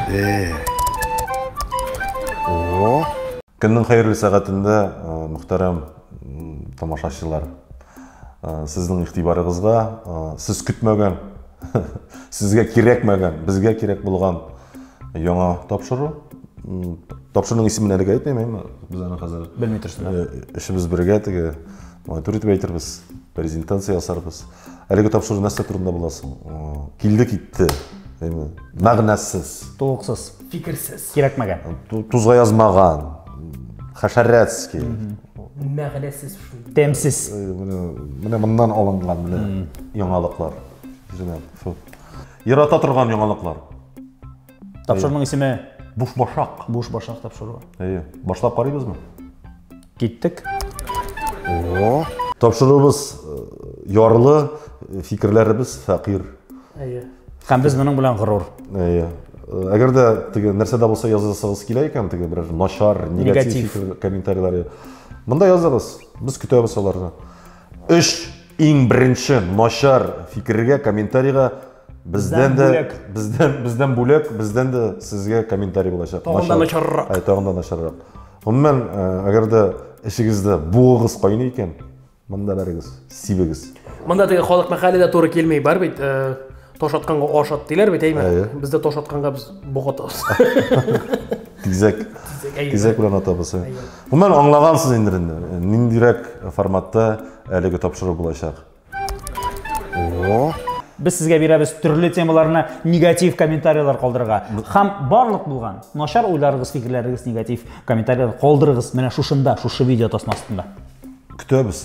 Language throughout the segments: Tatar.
Э. О. Көннең хәерле сәгатендә э, мөхтәрәм тамашачылар. Э, сезнең игътибарыгызга сез көтмәгән, сезгә кирәкмәгән, безгә кирәк булган Яңа тапшыру. Тапшыруның исемен әлегә әйтмим, әмма без аны хәзер белми торсыз. Эшебез бергә теге монитор итеп әйтербез, презентация ясарбыз. Әлеге тапшыру нәрсә турында була соң? Килде китте. Әйме, мәгънәсез. Тулыксыз. Фикерсез. Кирәкмәгән. Тузга язмаган. Хәшәрәтский. Мәгънәсез шул. Тәмсез. Менә моннан алынган менә яңалыклар. Үзенә. Ярата торган яңалыклар. Тапшырның исеме? Бушбашак. Бушбашак тапшыруы. Әйе. Башлап карыйбызмы? Киттек. О. Тапшыруыбыз э, ярлы, э, фикерләребез фәкыйр. Әйе. Һәм без моның белән горур. Әйе. Э, әгәр дә теге нәрсә дә булса язасыгыз килә икән, теге берәр начар, негатив, негатив. комментарийлар. Монда языгыз. Без көтәбез аларны. Өч иң беренче начар фикергә, комментарийга бездән дә бездән бездән бүләк, бездән дә сезгә комментарий булачак. Тагын да начаррак. Ай, тагын да начаррак. Гомумән, әгәр дә эшегездә буыгыз кайный икән, монда барыгыз, сибегез. Монда теге халык мәкале дә туры килми, бар бит. Таш атканга аш ат диләр бит, әйме? Әйе. Бездә таш атканга без бок атабыз. Тизәк. Әйе. Тизәк белән атабыз. Әйе. Гомумән аңлагансыз инде инде. Ниндирәк форматта әлеге тапшыру булачак? О. Без сезгә бирәбез төрле темаларны негатив комментарийлар калдырырга. Хам барлык булган начар уйларыгыз, фикерләрегез негатив комментарийлар калдырыгыз менә шушында, шушы видео тасмасында. Көтәбез.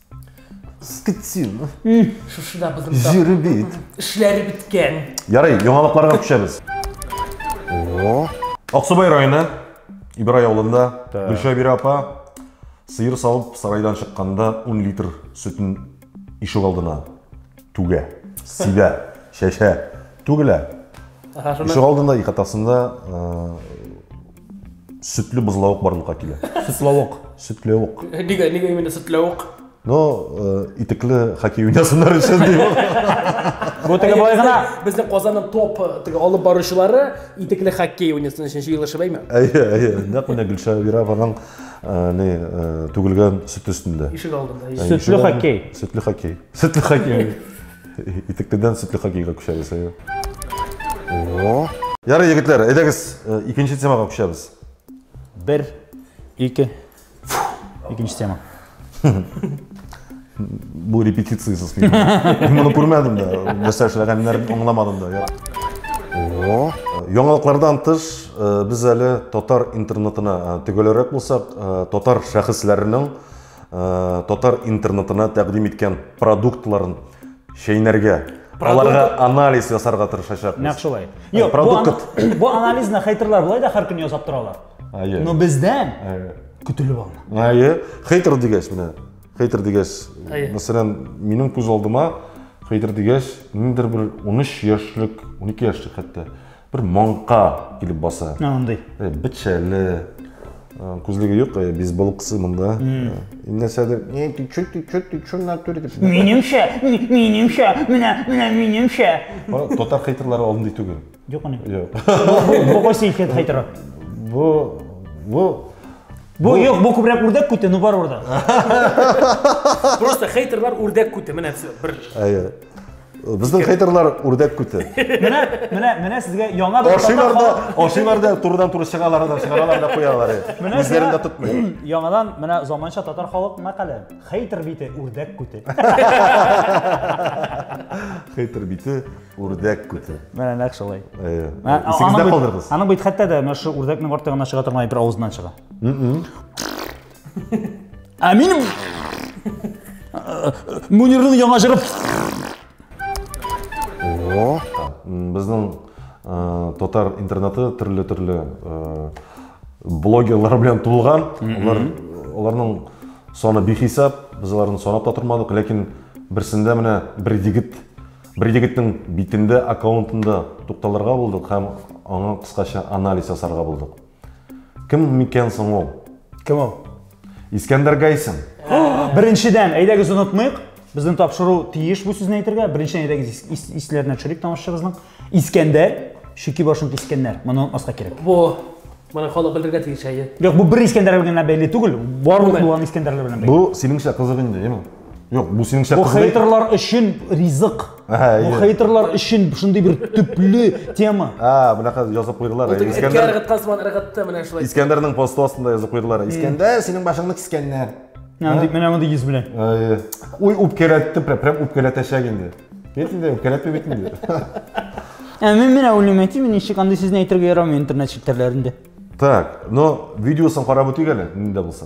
Скотин. Шушы да бозым. Җире бит. Эшләре беткән. Ярый, яңалыкларга күчәбез. О. Аксубай районы Ибрай авылында Гөлшәбирә апа сыер савып сарайдан чыкканда 10 литр сөтен ишек алдына түгә, сибә, чәчә, түгелә. Ишек алдында икатасында Сөтле бозлавык барлыкка килә. Сөтлавык, сөтләвык. Нигә, нигә именно сөтләвык? Ну, э, итекле хоккей уйнасыннар өчен дим. Бу теге былай гына. Безнең Казанның топ э, теге алып баручылары итекле хоккей уйнасын өчен җыелышып әйме? Әйе, әйе. Нәкъ менә Гөлшә Вированың э, ни э, түгелгән сөт өстендә. Ишек алдында. Ә, Сөтле ишек алдында- хоккей. Сөтле хоккей. Сөтле хоккей. Итектедән сөтле хоккейга күчәбез. О! Ярый, егетләр, әйдәгез, э, икенче темага күчәбез. Бер, ике, икенче тема. Бу репетициясез мин. Мин моны күрмәдем дә, нәрсә эшләгәннәрен аңламадым да. О! Яңалыклардан тыш, э, без әле татар интернетына э, төгәлрәк булсак, э, татар шәхесләренең татар интернетына тәкъдим иткән продуктларын чәйнәргә аларга анализ ясарга тырышачакбыз нәкъ шулай юк продукт бу анализны хейтерлар болай да һәр көн ясап торалар но бездән көтелеп алына әйе хейтер дигәч менә хейтер дигәч мәсәлән минем күз алдыма хейтер дигәч ниндидер бер 13 яшьлек 12 яшьлек хәтта Бер маңка килеп баса. Андый. Э, Бичәле. Э, Күзлеге юк, э, бейсболкасы монда. Э, Нәрсәдер. Не, ты чё, ты чё, ты чё в натуре? дип. Минемчә, ми- минемчә, менә, менә минемчә. Ана Татар хейтерлары алдындай түгел. Юк аны. Юк. Бу кайсы икән хәйтер? Бу, бу, Бу юк, бу күбрәк үрдәк күте, ну бар урда. Просто хейтерлар үрдәк күте, менә все, бер әйе. Безнең хейтерлар үрдәк күте. Менә, менә, менә сезгә яңа бер Ашыйлар да, ашыйлар да турыдан туры чыгалар да, чыгаралар да куялар. Үзләрен дә тотмый. Яңадан менә заманча татар халык мәкале. Хейтер бите үрдәк күте. Хейтер бите үрдәк күте. Менә нәкъ шулай. Исегездә калдырыгыз. Аның бит хәтта да менә шу үрдәкнең артыгына чыга торган бер авызыннан чыга. Ә минем Мөнирнең яңа җыры. О, безнең татар интернеты төрле-төрле блогерлар белән тулган. Алар аларның саны бихисап, без аларны санап та тормадык, ләкин берсендә менә бер егет бер егетнең битендә аккаунтында тукталырга булдык һәм аңа кыскача анализ ясарга булдык. Кем микән соң ул? Кем ул? Искәндәр Гайсин. Беренчедән, әйдәгез онытмыйк. Безнең тапшыру тиеш бу сүзне әйтергә. Беренчедән әйдәгез ис исләренә төшерик тамашачыбызның. Искәндәр, чүки башын кискәннәр. Моны онытмаска кирәк. Бу Моны халык белергә тиеш әйе. Юк, бу бер Искәндәр белән бәйле түгел. Барлык булган Искәндәрләр белән бәйле. Бу синеңчә кызык инде, яме. Юк, бу синеңчә Бу кызый. хейтерлар өчен ризык. Әһә, Бу әйе. хейтерлар өчен шундый бер төпле тема. Ә, бунака язып куйдылар. Ул теге эткә Искәндәр ыргыткан сыман ыргытты менә шулай. Искәндәрнең посты астында язып куйдылар. Искәндәр, синең башыңны кискәннәр. Менә мондый- Менә мондый йөз белән. Әйе. Уй, үпкәләтте, прям прям үпкәләтәчәк инде. Бит инде, үпкәләтми бит инде. Ә мин менә уйлыйм, әти, мин ничек андый сүзне әйтергә ярамый интернет челтәрләрендә. Так, но видеосын карап үтик әле, нинди булса.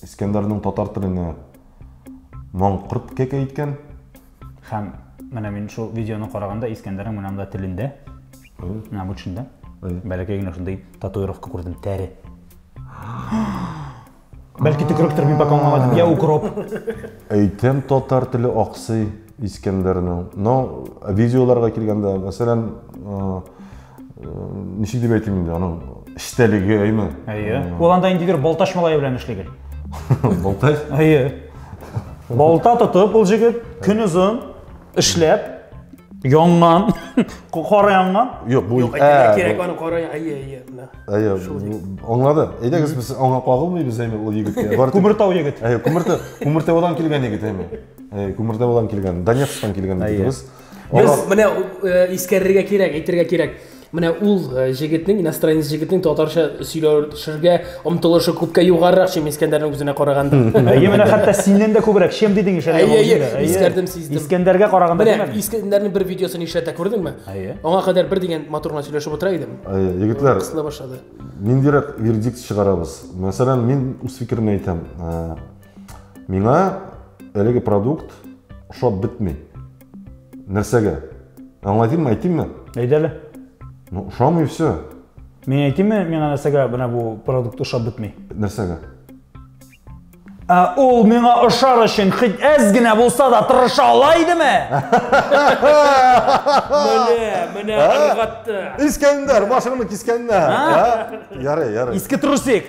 Искәндәрнең татар теленә маңкырт кәкә иткән. Хәм, менә мин шул видеоны караганда Искәндәрнең менә монда телендә, менә бу төшендә, бәләкәй генә шундый татуировка күрдем, тәре. Бәлки төкеректер мин пока аңламадым. Я укроп. Әйтәм татар теле аксый Искәндәрнең. Но видеоларга килгәндә, мәсәлән, ничек дип әйтим инде аның эчтәлеге әйме әйе ул анда инде бер балтач малае белән эшли гел балтач әйе балта тотып ул җегет көн озын эшләп янган кара янган юк бу кирәк аны кара әйе әйе әйе аңлады әйдәгез без аңа кагылмыйбыз әйме ул егеткә күмертау егет әйе күмертау күмертаудан килгән егет әйме әйе күмертаудан килгән донецктан килгән егетебез Без Аллах... менә э, искәрергә кирәк, әйтергә кирәк. Менә ул э, җегетнең, иностранец җегетнең татарча сөйләшергә омтылышы күпкә югарырак, чем Искәндәрнең үзенә караганда. Әйе, менә хәтта синнән дә күбрәк, чем дидең ишә. Әйе, әйе, искәрдем, сиздем. Искәндәргә караганда менә Искәндәрнең бер видеосын ишәтә, күрдеңме? Әйе. Аңа кадәр бер дигән матур гына сөйләшеп утыра идем. Әйе, егетләр. Кысыла башлады. Ниндирәк вердикт чыгарабыз? Мәсәлән, мин үз фикеремне әйтәм. Э, Миңа әлеге продукт ошап бетми. Нәрсәгә? Аңлатыйммы, әйтимме? Әйт әле. Ну, ошамый все. Мин әйтимме, миңа нәрсәгә менә бу продукт ошап бетми? Нәрсәгә? Ә ул миңа ошар өчен хит әз генә булса да тырыша ала идеме? Менә, менә аңгатты. Искәндәр, башыңны кискәннәр. Ярый, ярый. Иске трусик.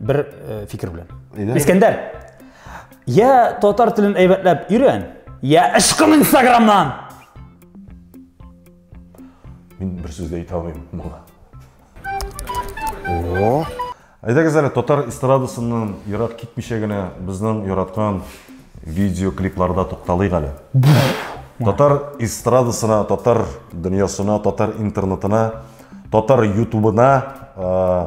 бер э, фикер белән Әйдә. искәндәр я татар телен әйбәтләп өйрән я ычкын инстаграмнан мин бер сүз дә әйтә алмыйм моңа о әйдәгез әле татар эстрадасыннан ерак китмичә генә безнең яраткан видеоклипларда тукталыйк әле татар эстрадасына татар дөньясына татар интернетына татар ютубына э,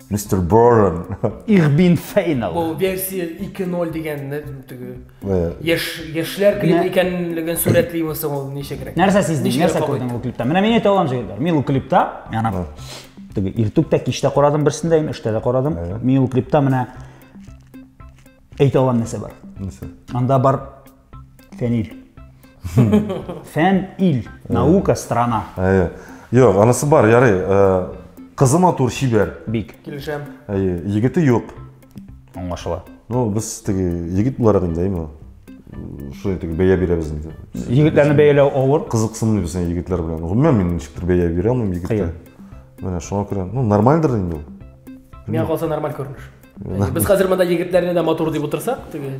Мистер Борн. Ich bin final. Бу версия 2.0 дигәнне теге Э, яшь яшьләр клип Менә- икәнлеген сурәтлиме соң ул ничегрәк? Нәрсә сиздең? Ничегрәк Нәрсә кабул күрдең ул клипта? Менә мин әйтә алам җегетләр. Мин ул клипта, яна теге иртүк тә кич тә карадым берсен дә, инде өчтә дә карадым. Мин ул клипта менә әйтә алам нәрсә бар. нәрсә? Анда бар Фәнил. Фән ил. Наука страна. Әйе. Юк, анысы бар, ярый. Э, Кызы матур, чибәр. Бик. Килешәм. Әйе, егете юк. Аңлашыла. Ну, без теге егет буларак инде, әйме? Шулай теге бәя бирәбез инде. Егетләрне бәяләү авыр. Кызыксынмыйбыз инде егетләр белән. Гомумән мин ничектер бәя бирә алмыйм егеткә. Кыен. Менә шуңа күрә, ну, нормальдыр инде ул. Миңа калса нормаль күренеш. Без хәзер монда егетләрне дә матур дип утырсак, теге.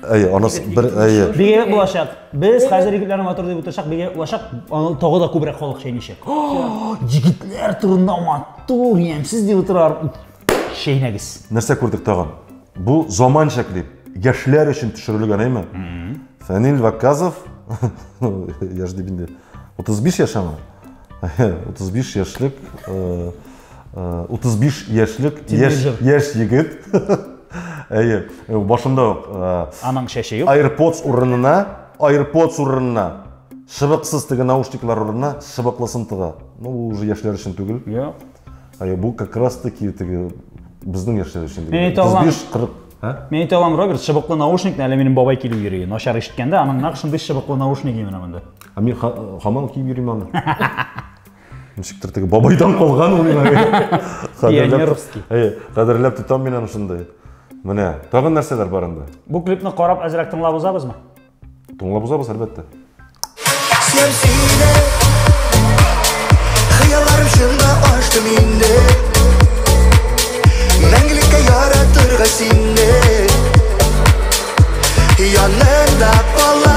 Әй, анас бер әй. Бигә булачак. Без хәзер егетләрне матур дип утырсак, бигә булачак. Аны тагы да күбрәк халык чәйничек. Егетләр турында матур, ямсыз дип утырар. Чәйнәгез. Нәрсә күрдек тагын? Бу заманча клип. Яшьләр өчен төшерелгән, әйме? Фәнил Ваказов, яшь дип инде, 35 яшь аңа. 35 яшьлек э, 35 э, яшьлек яшь яшь егет әйе э, башында ук э, аның чәче юк AirPods урынына AirPods урынына шыбыксыз теге наушниклар урынына шыбыклысын тыга ну бу уже яшьләр өчен түгел иә әйе бу как раз таки теге безнең яшьләр өчен мен әйтә алам 35-40 мен әйтә алам роберт шыбыклы наушникны әле минем бабай килеп йөри начар ишеткәндә аның нәкъ шундый шыбыклы наушник именно монда а мен хаман киеп йөрим аны ничектер теге бабайдан калган ул пионерский кадерләп тотам мин аны шундый менә тагын нәрсәләр бар анда бу клипны карап әзрәк тыңлап узабызмы тыңлап узабыз әлбәттә хыялларым чынга ашты минде мәңгелеккә яратырга синне янында кала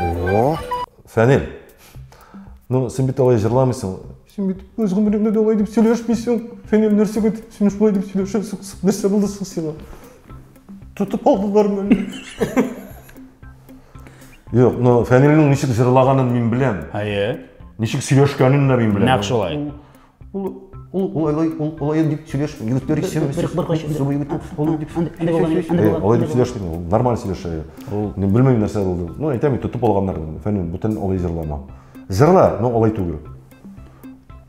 О! Фәнил, ну, син бит алай җырламыйсың. Син бит үз гомереңдә дә алай дип сөйләшмисең. Фәнил, нәрсәгә дип син шулай дип сөйләшәсең? Нәрсә булды соң сиңа? Тотып алдылармы? Юк, ну, Фәнилнең ничек җырлаганын мин беләм. Әйе. Ничек сөйләшкәнен дә мин беләм. Нәкъ шулай. Ул ул ул олай ул олай дип сөйләш йөртер исем. Бер бер кайчы. Субый бит. Ул дип. Әнде булган әнде булган. Олай дип сөйләш дим. Ул нормаль сөйләшә. Ул не белмим нәрсә булды. Ну әйтәм инде тотып алганнар. Фәнил бүтән олай җырлама. Җырла, но олай түгел.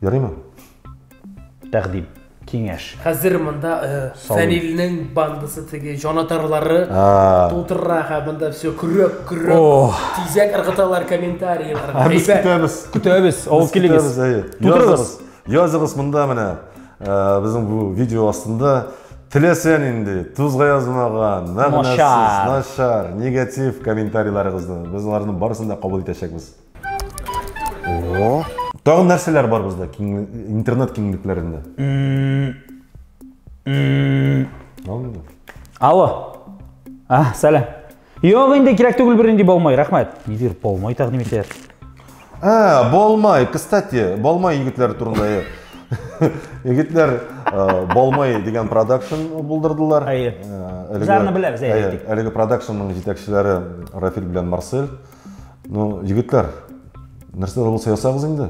Ярыймы? Тәкъдим. Киңәш. Хәзер монда Фәнилнең бандасы теге җанатарлары тутырра һәм монда все көрәк көрәк тизәк ыргыталар комментарийлар. Без көтәбез. Көтәбез. Ул килегез. Тутырыгыз. Языгыз монда менә безнең бу видео астында теләсән инде тузга язмаган, мәгънәсез, начар, негатив комментарийларыгызны без аларның барысын да кабул итәчәкбез. О. Тагын нәрсәләр бар бездә интернет киңлекләрендә? Алло. А, сәлам. Юк, инде кирәк түгел бернинди болмай, рәхмәт. Нидер болмай тәкъдим итә. А, болмай, кстати, болмай егетләр турында. Егетләр болмай дигән продакшн булдырдылар. Әйе. Безләрне беләбез, әйе. Әлеге продакшнның җитәкчеләре Рафил белән Марсель. Ну, егетләр, нәрсә дә булса ясагыз инде.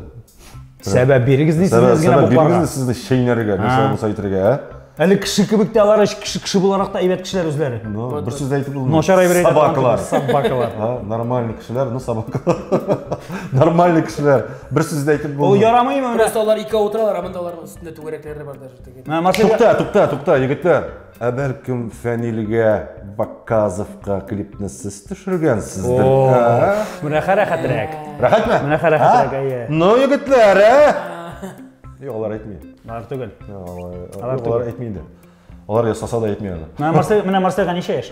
Сәбәп бирегез ди сезне генә бу планга. Сәбәп сезне чәйнәргә, нәрсә дә булса әйтергә, ә? Әле кеше кебек тә алар кеше кеше буларак та әйбәт кешеләр үзләре. Ну, бер сүз дә әйтеп булмый. Начар әйбер әйтә. Собакалар. Собакалар. А, нормальный кешеләр, ну собакалар. Нормальный кешеләр. Бер сүз дә әйтеп булмый. Ул ярамыймы? Просто алар ике утыралар, ә монда аларның өстендә түгәрәкләре бар даже. Тукта, тукта, тукта, егетләр. Ә бәлкем Фәнилгә Бакказовка клипны сез төшергәнсездер? Ә? Мөнәхә рәхәтрәк. Рәхәтме? Мөнәхә рәхәтрәк, Ә? әйе. Ну, егетләр, ә? Юк, алар әйтми. Алар түгел. Алар Юк, түгел. алар әйтми инде. Алар ясаса да әйтми аны. Менә Марсель, менә Марсельга ничә яшь?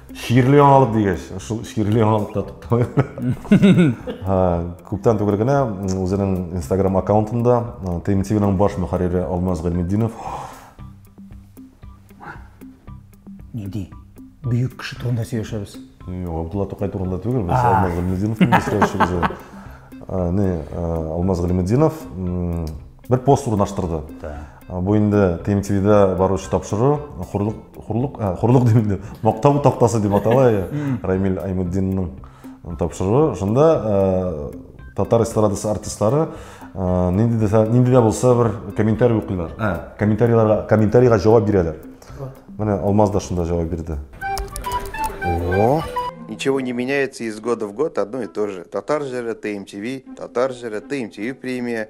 Чирле яңалык дигәч, шул чирле яңалыкта тукталыйм. Күптән түгел генә үзенең Instagram аккаунтында ТМТВның баш мөхәррире Алмаз Гыйлметдинов Нинди бөек кеше турында сөйләшәбез. Юк, Абдулла Тукай турында түгел, без Алмаз Гыйлметдинов турында сөйләшәбез. Алмаз Гыйлметдинов бер пост урнаштырды. Бу инде ТМТВда баручы тапшыру, хурлык, хурлык, ә, хурлык дим инде, мактау тактасы дип атала, Рамил Аймутдинның тапшыруы. Шунда ә, татар эстрадасы артистлары ә, нинди дә нинди дә булса бер комментарий укыйлар. Ә, комментарийларга комментарийга җавап бирәләр. Менә Алмаз да шунда җавап бирде. О, Ничего не меняется из года в год, одно и то же. Татар жира, ТМТВ, Татар жира, ТМТВ премия,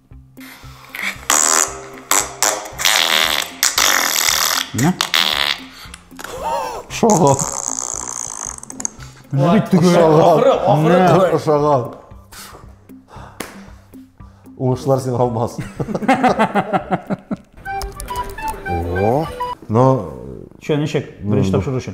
Шагал. Менә бит түгел. Ахыры, ахыры түгел. Шагал. Уңышлар син алмас. О. Но Че, ничек? Беренче тапшыру өчен.